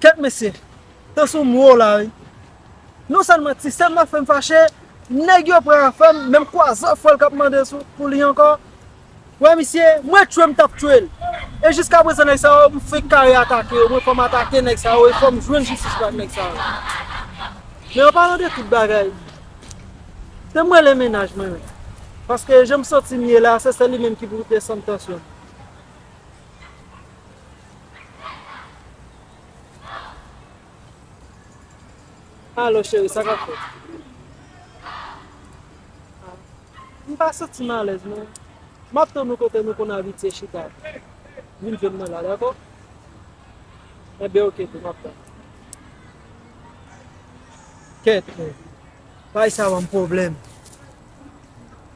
Kèt mesye, tan sou m wo la wi. Non sèlman ti sè m nan fè m fache, nèg yo pran afè m, menm kwazè fwèl k ap mande pou li ankò. Wè misye, mwen tchwe m t ap tchwe l. E jiska prezan nèg sa yo, m fenk kare atake yo. Mwen fò m atake nèg sa yo e fò m jwenn jistis pou ak nèg sa yo. Men an palan de tout bagay, te m rele mennaj mwen an. Paske jan m santi m ye la, se sèl li menm ki pou desann tansyon m. Alo cheri sa kap fèt? M pa santi m alèz men m ap tann ou kote nou konn abitye chita a. Vin jwenn mwen la dakò? Enben ok tou m ap tann ou. Kèt men, bay sa ban m pwoblèm.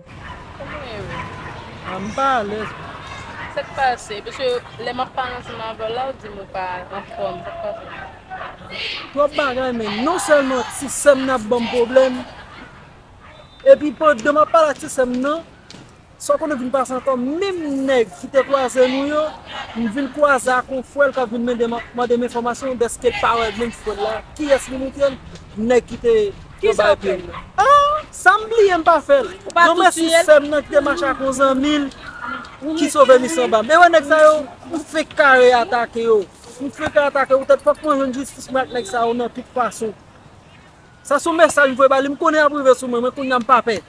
Koman ye we? Ah m pa alèz non. Sa k pase? Paske lè m ap pale ansanm avè w la ou di m ou pa anfòm. Sa k pase? Twòp bagay menn. Non sèlman ti sè m nan ap ban m pwoblèm, epi pandan m ap pale ak ti sè m nan, sa w konnen vin pase ankò, menm nèg ki te kwaze nou yo, m vin kwaze ak yon frè l k ap vin mande m enfòmasyon dèske l pa wè menm frè l la. Kiyès li montre l? Nèg ki te. Yo bay pye m. Ahh! Sa m bliye m pa fè l. Yon mèsi sè m nan ki te mache ak yon zanmi l ki sove mis anba. Men wè nèg sa yo, m fenk kare atake yo. M fenk atake yo poutèt fòk mwen jwenn jistis mwen ak nèg sa yo nan tout fason. Sa son mesaj m voye ba li. M konnen y ap rive sou mwen, men kounye a m pa pè.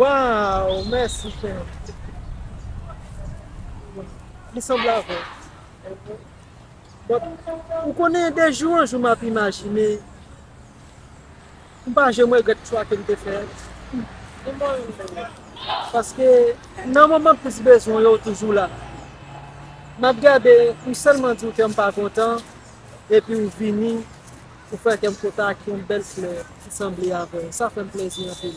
Waw mèsi frè Li sanble avè w Ou konnen de jou an jou m ap imajine M pa janm regrèt chwa ke m te fè. Ni mwen menm dayè. Paske nan moman plis bezwen yo ou toujou la. M ap gade pou sèlman di w kè m pa kontan epi ou vini ou fè kè m kontan ak yon bèl flè ki sanble avè w. Sa fè m plèzi anpil.